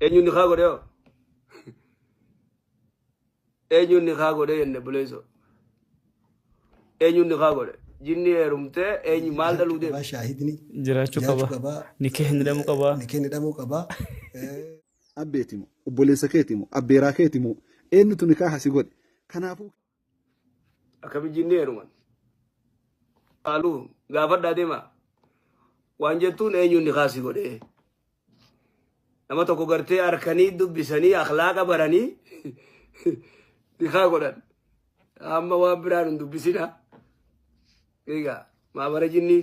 Eenyuun nikaa godhe hoo? Eenyuun nikaa godhe jenne buleessoo? Eenyuun nikaa godhe? Jinni heerumtee eenyu maal dhaluu deema? Qabaa shaahidni jiraachuu jiraachuu qaba qabaa ni kee hin hidhamuu qaba ni kee hidhamuu qabaa. Eh, abbeeti moo obboleessa keeti moo abbeeraa keeti moo eenyutu nikaaha si godhe kanaafuu Akkami jinnee heeruman. Haaluu gaafadhaa deemaa. Waan jettuun eenyuun ni kaasii godhee. Nama tokko gartee harkanii dubbisanii akhlaaqa baranii ni kaa godhan. Amma waan biraan hin dubbisina. Egaa maabara jinnii.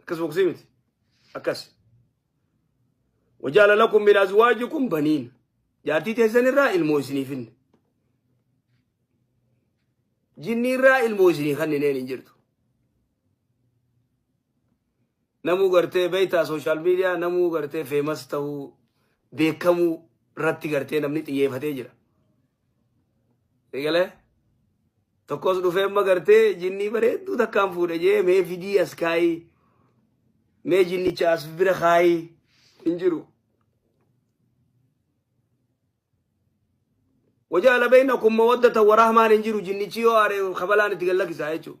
akkas boksii miti akkas wajaala lakum min azwaajikum baniin jaartii teessan irraa ilmoo isiniif hinne jinni irraa ilmoo isinii kannineen hin jirtu namuu gartee beektaa sooshaal miidiyaa namuu gartee feemas ta'uu beekamuu irratti gartee namni xiyyeefatee jira. Eegalee? Tokkos dhufee amma gartee jinnii bareedduu takkaan fuudhe jee mee fidii as kaayii mee jinnicha as bira kaayii hin jiru. Wajaala beeyna kun mawaddata warahmaan hin jiru jinnichi yoo aare kabalaan itti gad lakkisaa jechuudha.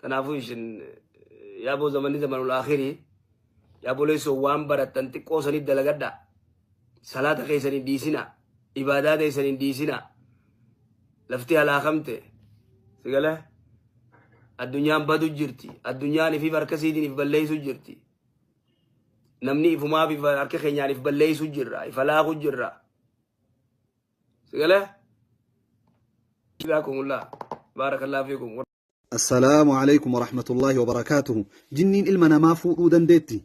Kanaafuu isin yaaboo zamanni zamanul akhirii yaabolee sun waan barattan xiqqoo sanii dalagadha. Salaata keessan hin dhiisina. Ibaadaa keessan hin dhiisina. Lafti halaakamte. Sigala addunyaan badu jirti. Addunyaan ifiif harka siitiin if balleessu jirti. Namni ifumaaf if harka keenyaan if balleessu jirra. If halaaku jirra. Sigalee? Jazaakumullah. Baarakallahu fiikum. Assalaamu alaikum warahmatullaahi wabarakaatuhu. Jinniin ilma namaa fuudhuu dandeetti.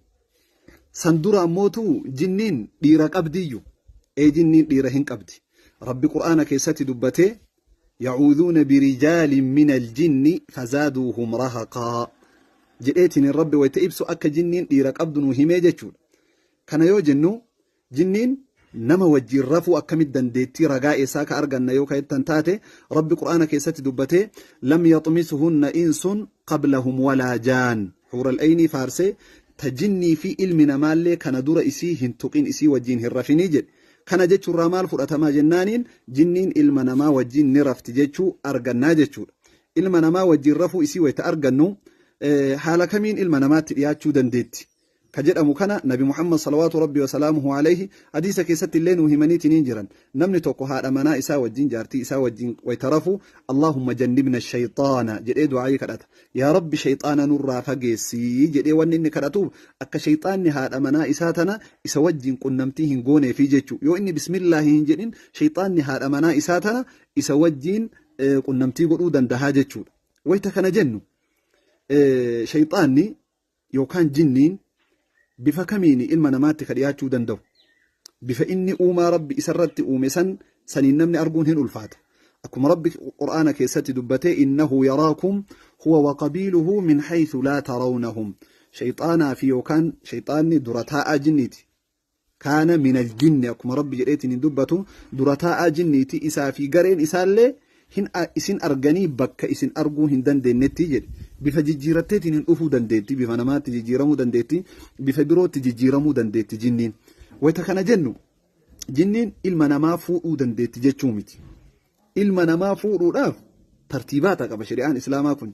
San dura ammootu jinniin dhiira qabdiyyu. Ee jinniin dhiira hin qabdi. Rabbi Qur'aana keessatti dubbatee yacuuduuna birijaalin min aljinni fazaaduuhum rahaqaa jedheetiin rabbi wayita ibsu akka jinniin dhiira qabdu nu himee jechuudha. Kana yoo jennu Jinniin nama wajjiin rafuu akkamit dandeettii ragaa eessaa ka arganna yoo ka jettan taate Rabbi qur'aana keessatti dubbatee lam yaxmisuhunna insun qablahum walaa jaan huural eynii faarsee ta jinnii fi ilmi namaallee kana dura isii hin tuqin isii wajjiin hin rafinii jedhe kana jechuurraa maal fudhatamaa jennaaniin jinniin ilma namaa wajjiin ni rafti jechuu argannaa jechuudha ilma namaa wajjiin rafuu isii wayta argannu haala kamiin ilma namaatti dhiyaachuu dandeetti ka jedhamu kana nabi muhammad salawaatu rabbi wasalaamuhu alayhi hadiisa keessatti illee nuu himaniitiniin jiran namni tokko haadha manaa isaa wajjin jaartii isaa wajjin wayta rafu allaahumma jannibna shayxaana jedhee du'aa'ii kadhata yaa rabbi shayxaana nurraa fageessii jedhee wanni inni kadhatuuf akka shayxaanni haadha manaa isaa tana isa wajjin qunnamtii hin gooneefi jechuu yoo inni bismillaahi hin jedhin shayxaanni haadha manaa isaa tana isa wajjin eh, qunnamtii godhuu dandahaa jechuudha wayta kana jennu eh, shayxaanni yookaan jinniin bifa kamiini ilma namaatti ka dhiyaachuu danda'u? Bifa inni uumaa Rabbi isarratti uume san saniin namni arguun hin ulfaata. Akkuma Rabbi Qur'aana keessatti dubbate innahu yaraakum huwa wa qabiiluhu min haythu laa tarawnahum. Shayxaanaa fi yookaan shayxaanni dura taa'aa jinniiti. kaana minal jinni akkuma rabbi jedheetiin hin dubbatu dura taa'aa jinniiti isaa fi gareen isaallee hin isin arganii bakka isin arguu hin dandeenyetti jedhe bifa jijjiiratteetiin hin dhufuu dandeetti bifa namaatti jijjiiramuu dandeetti bifa birootti jijjiiramuu dandeetti jinniin wayita kana jennu jinniin ilma namaa fuudhuu dandeetti jechuu miti ilma namaa fuudhuudhaaf tartiibaata qaba shari'aan islaamaa kun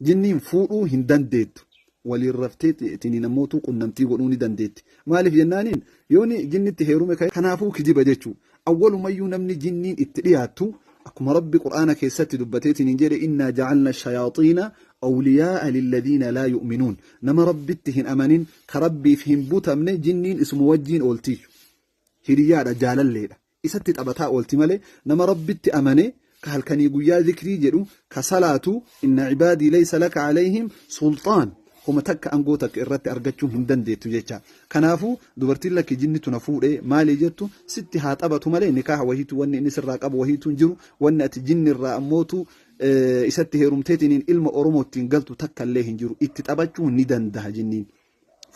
Jinniin fuudhuu hin dandeettu. Waliin raftee tiniin ammootuu qunnamtii godhuu ni dandeetti. Maaliif jennaaniin yooni jinnitti heerume ka'e kanaafuu kijiba jechuu. Awwalumayyuu namni jinniin itti dhiyaattu akkuma Rabbi Qur'aana keessatti dubbatee tiniin jedhe innaa ja'alna shayaaxiina awliyaa'a lilladiina laa yu'minuun. Nama Rabbitti hin amanin, ka Rabbiif hin butamne jinniin isuma wajjiin ooltiiyyu. Hiriyyaadha, jaalalleedha. isatti taphataa oolti malee nama Rabbitti amane ka halkanii guyyaa zikrii jedhu ka salaatu inna cibaadii laysa laka alayhim sulxaan homa takka angoo takka irratti argachuu hin dandeettu jecha kanaafuu dubartiin lakki jinnitu na fuudhe maalii jettu sitti haa taphatu malee nikaaha wahiitu wanni inni sirraa qabu wahiitu hin jiru wanni ati jinni irraa ammootu isatti heerumteetiniin ilma oromoo ittiin galtu takka illee hin jiru itti taphachuu ni dandaha jinniin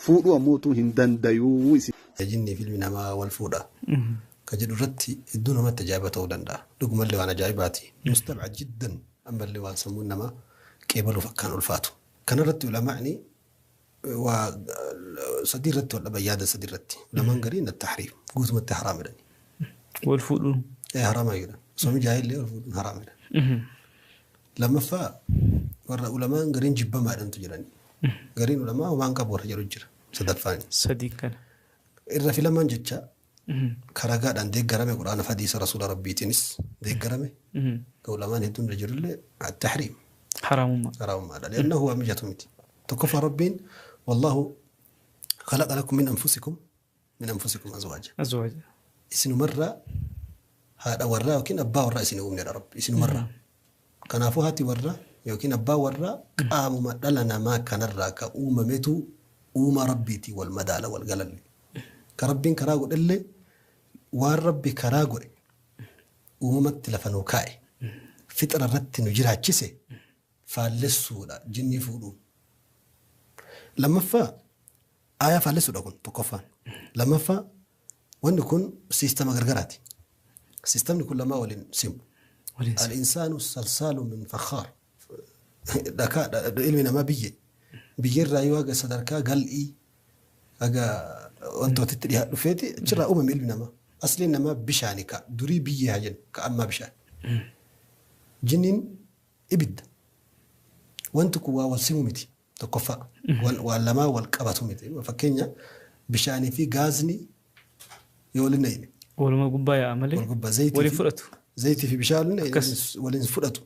fuudhuu ammoo utuu hin dandayuu. Isa jinnii fi ilmi namaa wal fuudha ka jedhu irratti hedduu namatti ajaa'iba ta'uu danda'a. Dhugumallee waan ajaa'ibaati. Mustabcad jiddan. Ammallee waan sammuun namaa qeebaluuf akkaan ulfaatu. Kana irratti ulamaa'ni waa sadii irratti wal dhaban yaada sadii irratti. Ulamaan gariin attahriim guutumatti haraam jedhani. Wal fuudhuun. Ee haraama jedhan. Osoo mijaa'ee illee wal fuudhuun haraam jedhan. Lammaffaa warra ulamaan gariin jibbamaadhantu jirani. Gariin ulamaa homaan qabu warra jedhu jira. Sadaffaan. Sadiin kana. Irra filamaan jecha ka ragaadhaan deeggarame quraana fi hadiisa rasuula rabbiitiinis deeggarame ka ulamaan hedduun irra jirullee attahriim Haraamummaa. haraamummaadha. Liannahu waa mijatu miti. Tokkoffaa rabbiin wallaahu khalaqa lakum min anfusikum min anfusikum azwaaja azwaaja isinumarraa haadha warraa yookiin abbaa warraa isin uumnedha rabbi isinumarraa kanaafuu haati warraa yookiin abbaa warraa qaamuma dhala namaa kanarraa ka uumametu uumaa rabbiitii wal madaala wal galalli ka rabbiin karaa godhellee waan rabbi karaa godhe uumamatti lafa nuu kaa'e fixira irratti nu jiraachise faallessuudha jinnii fuudhuun. Lammaffaa aayaa faallessuudha kun tokkoffaan. Lammaffaa wanni kun siistama gargaraati. Siistamni kun lamaa waliin simu. Waliin simu. Al-insaanu salsaalu min fakhaar. Dhakaa dha- dha- ilmi namaa biyyee. Biyyerraa yoo haga sadarkaa gal'ii haga wantootitti dhiyaa dhufeeti achirraa uumame ilmi namaa. Asliin namaa bishaani ka durii biyyee haa jennu ka ammaa bishaan. Jinniin Ibidda. Wanti kun waan wal simu miti. Tokkoffaa waan waan lamaa wal qabatu miti. Fakkeenya bishaanii fi gaazni yoo waliin na'ine Waluma gubbaa yaa'a malee wal gubbaa zayitii waliin fi- fudhatu. zayitii fi bishaan waliin Akkas. na'ine waliin fudhatu.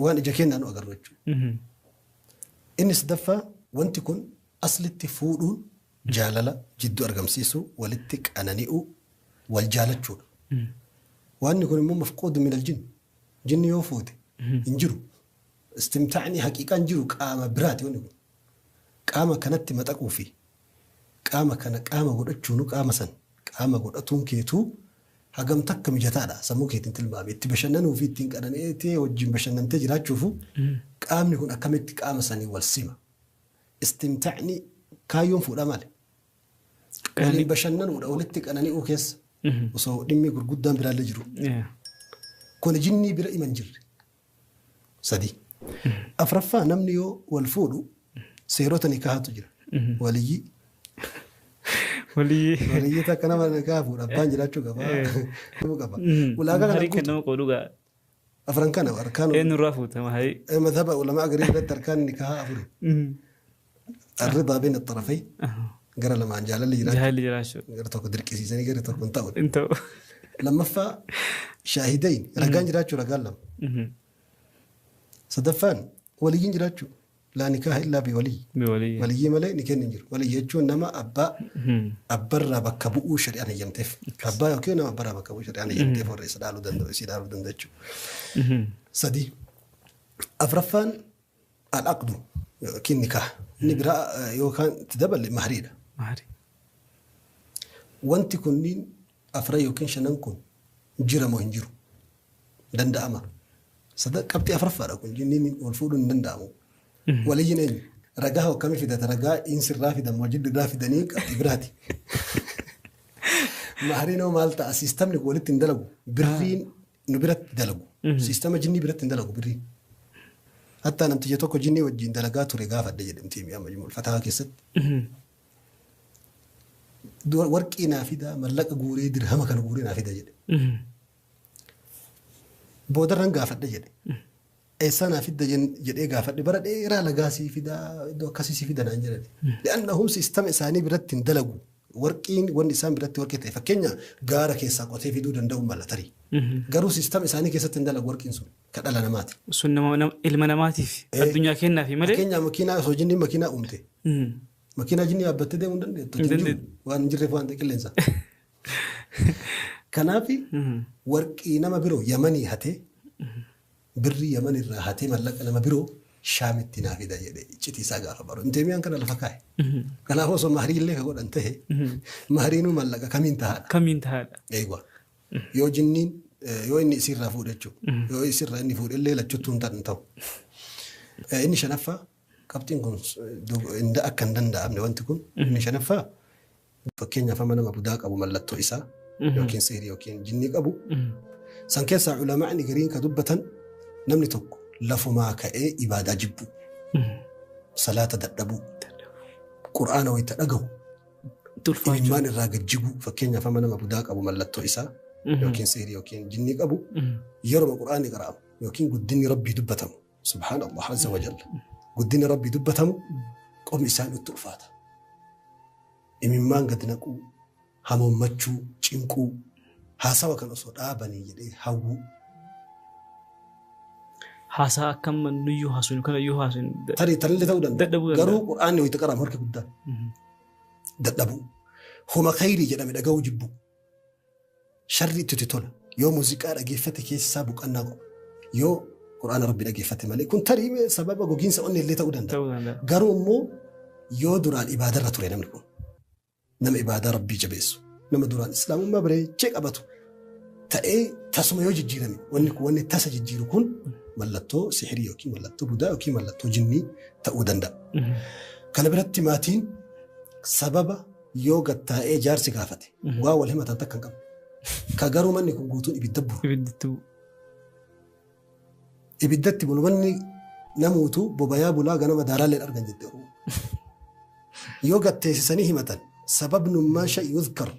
Waan ija keenyaan nu agarru jechuudha. Mhm. Inni sadaffaa wanti kun aslitti fuudhuun jaalala jidduu argamsiisuu walitti qanani'uu wal jaalachuudha. Mhm. Waanni kun immoo mafquudu min aljin Jinni yoo fuute hin jiru. Istimtaa'ni haqiiqaan jiru qaama biraati wanni kun. Qaama kanatti maxaquu fi qaama kana qaama godhachuunu qaama san qaama godhatuun keetuu hagam takka mijataadha sammuu keetiin tilmaame. Itti bashannanuu fi ittiin qanani'eetee wajjin bashannantee jiraachuufu qaamni kun akkamitti qaama sanii wal sima. Istimtaa'ni kaayyoon fuudhaa maali? Waliin bashannanuudha walitti qanani'uu keessa osoo dhimmi gurguddaan biraallee jiru. Yeah. Kun jinnii bira iman jirre. Sadii. Afraffaa namni yoo wal fuudhu seerota nikaahatu jira. Waliyyii. Walii. Waliyyii takka nama nikaaha fuudha abbaan jiraachuu qaba. Nama qaba. Ulaagaa kana Maharii guutu. kennamu qaba dhugaa. afran kana arkaan Eenyu irraa fuute mahayii? eh, madhaba ulamaa garii irratti arkaan nikahaa afuri arridaa bayna xarafay gara lamaan jaalalli jiraachuu Jaalli jiraachuu. gara tokko dirqisiisanii gara tokko hin ta'u Hin ta'u. lammaffaa shaahidayn ragaan jiraachuu ragaan lama Mhm. sadaffaan waliyyiin jiraachuu Laa nikaaha illaa bi waliyyi. Bi waliyyi. Waliyyii malee nikeenni hin jiru. Waliyyi jechuun nama abbaa abba irraa bakka bu'uu shari'aan heyyamteef. Akkas. Abbaa yookiin nama abba irraa bakka bu'uu shari'aan heyyamteef warra isa dhaaluu danda'u isii dhaaluu danda'u jechuudha. Sadii. Afraffaan al-aqdu yookiin nikaaha. Inni biraa eh, yookaan itti daballe mahriidha. Maari. Wanti kunniin afran ykn shanan kun jira moo hin jiru? Danda'ama. Sada, qabxii afraffaadha kun jinniin wal fuudhuun hin danda'amu. Waliyyiin eenyu? Ragaa hoo akkamii fidata? Ragaa insirraa fidan moo jiddurraa fidanii qabxii biraati. Mahariin hoo maal ta'a? Siistamni kun walitti hin dalagu. Birriin nu biratti dalagu. Siistama jinnii biratti hin dalagu birriin. Hattaa namticha tokko jinnii wajjin dalagaa ture gaafadhe jedhamti mi'a majmuul fatahaa keessatti. Dura warqii naa fidaa mallaqa guuree dirhama kana guuree naa fida jedhe. Boodarran gaafadhe jedhe. Eessaa naa fidda jen- jedhee gaafadhe bara dheeraa lagaa sii fidaa iddoo akkasii sii fida naan jedhani. Li'annahum sistama isaanii biratti hin dalagu. Warqiin wanni isaan biratti warqii ta'e fakkeenya gaara keessaa qotee fiduu danda'u mala tarii. Garuu sistama isaanii keessatti hin dalagu warqiin sun. ka dhala namaati. Sun nama, nama, ilma namaatiif Ee. addunyaa kennaafi malee Fakkeenyaa makiinaa osoo jinniin makiinaa uumte. Mm. Makiinaa jinnii yaabbattee deemuu hin dandeettu. Hin Hin jiru. dandeettu. Waan hin jirreef waan ta'e qilleensa. Kanaaf Mm. warqii nama biroo yamanii hatee birrii yaman irraa hatee mallaqa nama biroo shaamitti naa fida jedhee iccitii isaa gaafa baru. Inteemiyaan kana lafa kaa'e. Mhm. Kanaaf osoo mahrii illee ka godhan ta'e mahriinuu mallaqa kamiin tahaadha. Kamiin tahaadha. Eegwa. Yoo jinniin yoo inni isiirraa fuudhe jechuudha. Yoo isirraa inni fuudhe illee lachuttuu hin tan- ta'u. Eh, Inni shanaffaa qabxiin kun s- dog- hin da- akka hin danda'amne wanti kun inni shanaffaa fakkeenyaaf amma nama budaa qabu mallattoo isaa yookiin sihrii yookiin jinnii qabu san keessaa ulamaa'ni gariin ka dubbatan namni tokko lafumaa ka'ee ibaadaa jibbu salaata dadhabuu qur'aana wayita dhagahu itti ulfaachuu. Imimmaan irraa gad jiguu fakkeenyaaf amma nama budaa qabu mallattoo isaa Mhm. yookiin sihrii yookiin jinnii qabu Mhm. yeroo quraanni qara'amu yookiin guddinni rabbii dubbatamu subhaanallah azza wa jalla guddinni rabbii dubbatamu qomni isaan itti ulfaata imimmaan gad naquu hamoommachuu cinquu Haasawa kan osoo dhaabanii jedhee hawwuu. Haasaa akka amma nuyyuu haasofnu kana yoo haasofnu da- Tarii tarillee ta'uu danda'a. Dadhabuu danda'a. Garuu qur'aanni wayita qaraamu harki guddaan Mhm. dadhabuu. Homa khayrii jedhame dhaga'uu jibbuu. Sharri itti tola. Yoo muuziqaa dhageeffate keessaa boqannaa qaba. Yoo qur'aana rabbi dhageeffate malee kun tarii mee sababa gogiinsa onnee illee ta'uu danda'a. Ta'uu danda'a. Garuu immoo yoo duraan ibaadarra ture namni kun nama ibaadaa rabbii jabeessu nama duraan islaamummaa bareechee qabatu ta'ee tasuma yoo jijjiirame wanni kun wanni tasa jijjiiru kun mallattoo sihirii yookiin mallattoo budaa yookiin mallattoo jinnii ta'uu danda'a. Kana biratti maatiin sababa yoo gattaa'ee jaarsi gaafate waa wal himatan takka hin qabu. Ka garuu manni kun guutuun ibidda buru. Ibiddituu. Ibiddatti bulu manni namuutu bobayaa bulaa ganama daaraalleen argan jette Oromoo. Yoo gatteessisanii himatan sababnummaa sha'i yuzkar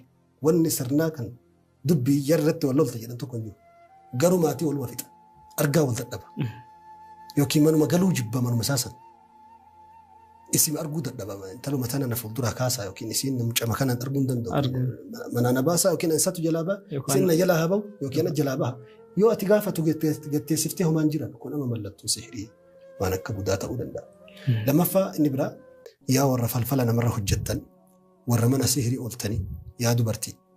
wanni sirnaa kan dubbii yarratti wal lolta jedhan tokko hin jiru. Garuu maatii waluma fixa. Argaa wal dadhaba. Yookiin manuma galuu jibba manuma saasan. Isin arguu dadhabama. Intaluma tana na fuuldura kaasaa yookiin isiin mucama kanaan arguu hin danda'u. Arguu. Manaa na baasaa yookiin isatu jalaa ba'a. Yookaan- Isin na jalaa haa ba'u yookiin na jalaa ba'a. Yoo ati gaafatu gatte- gatteessiftee homaan jiran kun amma mallattoo sihirii waan akka budaa ta'uu danda'a. Lammaffaa inni biraa yaa warra falfala namarra hojjettan warra mana sihirii ooltanii yaa dubartii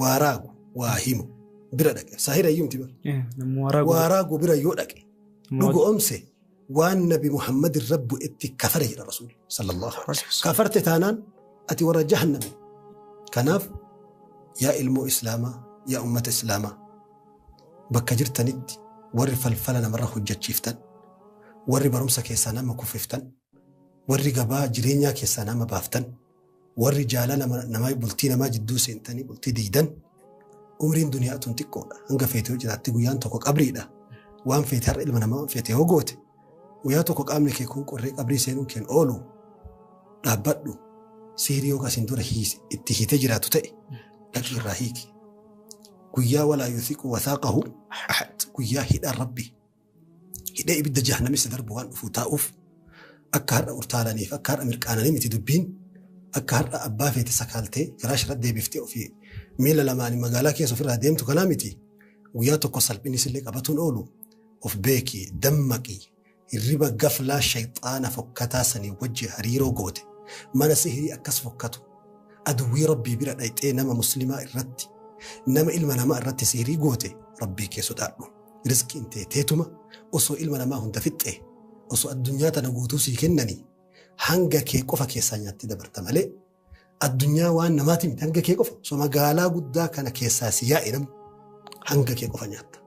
waa raagu waa himu bira dhaqe saahira iyyuu miti bar Eh, namni waa raagu- waa raagu bira yoo dhaqe Moot- dhugoomse waan nabi muhammad irra bu'etti kafare jedha rasuul sallallahu alaihi Alaihi wasallam. kafarte taanaan ati warra jahanname kanaaf yaa ilmoo islaamaa yaa ummata islaamaa bakka jirtanitti warri falfala namarra hojjechiiftan warri barumsa keessaa nama kuffiftan warri gabaa jireenyaa keessaa nama baaftan Warri jaala nama, nama bultii namaa jidduu seentanii bultii diigdan umriin duniyaa tun xiqqoodha. Hanga feete yoo jiraatti guyyaan tokko qabriidha. Waan feete har'a ilma namaa feete yoo goote guyyaa tokko qaamni kee kun qorree qabrii seenuun keen oolu dhaabbadhu sihrii yoo kasiin dura hiis- itti hiitee jiraatu ta'e dhaqii irraa hiiki. Guyyaa walaa yusiqu wasaaqahu ahad guyyaa hidhaan rabbi hidhee ibidda jahannamessa darbu waan dhufuu taa'uuf akka har'a urtaalaniif akka har'a mirqaananii miti dubbiin akka har'a abbaa feete sakaaltee firaash irratti deebiftee ofii miila lamaan magaalaa keessa ofirraa deemtu kanaa miti guyyaa tokko salphinni sillee qabatuun oolu of beeki dammaqi hirriba gaflaa shayxaana fokkataa sanii wajji hariiroo goote mana sihirii akkas fokkatu aduwwii rabbii bira dhayxee nama muslimaa irratti nama ilma namaa irratti sihirii goote rabbii kee sodaadhu. Rizqiin tee teetuma osoo ilma namaa hunda fixxee osoo addunyaa tana guutuu sii kennanii hanga kee qofa keessaa nyaattee dabarta malee addunyaa waan namaati miti hanga kee qofa osoo magaalaa guddaa kana keessaa si yaa'e namni hanga kee qofa nyaatta.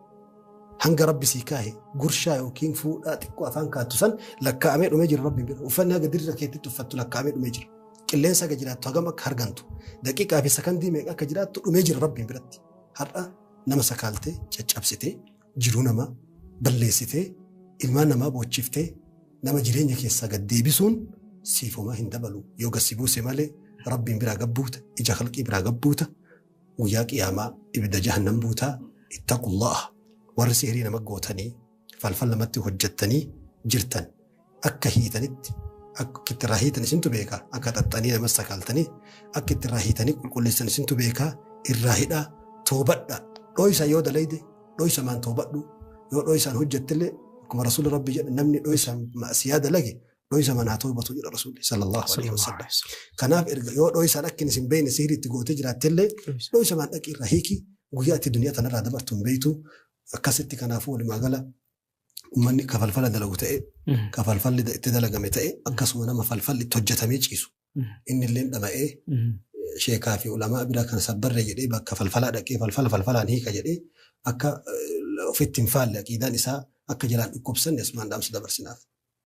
Hanga rabbi sii kaahe gurshaa yookiin fuudhaa xiqqoo afaan kaattu san lakkaa'amee dhumee jira rabbi bira uffannaa gadi irra keetti tuffattu lakkaa'amee dhumee jira. Qilleensa akka jiraattu hagam akka hargantu daqiiqaa fi sakandii meeqa akka jiraattu dhumee jira rabbi biratti. Har'a nama sakaaltee caccabsitee jiruu namaa balleessitee ilmaan namaa boochiftee nama jireenya keessaa gad deebisuun siif homaa hin dabalu yoo gad si buuse malee rabbiin biraa gad buuta ija halqii biraa gad buuta guyyaa qiyaamaa ibidda jahannam buutaa ittaqullaha warri sihrii nama gootanii falfal namatti hojjettanii jirtan akka hiitanitti akka itti irraa hiitan isintu beeka akka xaxxanii nama sakaaltanii akka itti irraa hiitanii qulqulleessan isintu beeka irraa hidhaa toobadha dhoysa yoo dalayde dhoysa maan toobadhu yoo dhoysaan hojjettillee akkuma rasuulli rabbi jedhe namni dhoysa ma'asiyaa dalage dhoysa manaa toobatu jedha rasuulli sallallahu alaihi wasallam kanaaf erga yoo dhoysaan akkin isin beeyne sihrii itti gootee jiraattillee dhoysa maan dhaqii irraa hiiki guyyaa itti duniyaa tanarraa dabartu hin beeytu akkasitti kanaafuu walumaa gala uummanni kafalfala dalagu ta'e kafalfalli itti dalagame ta'e akkasuma nama falfalli itti hojjetamee ciisu inni illee dhama'ee sheekaa fi ulamaa bira kan sabbarre jedhee bakka falfalaa dhaqee falfala falfalaan hiika jedhee akka ofitti hin faalle aqiidaan isaa akka jalaan dhukkubsanne asumaan dhaamsa dabarsinaaf.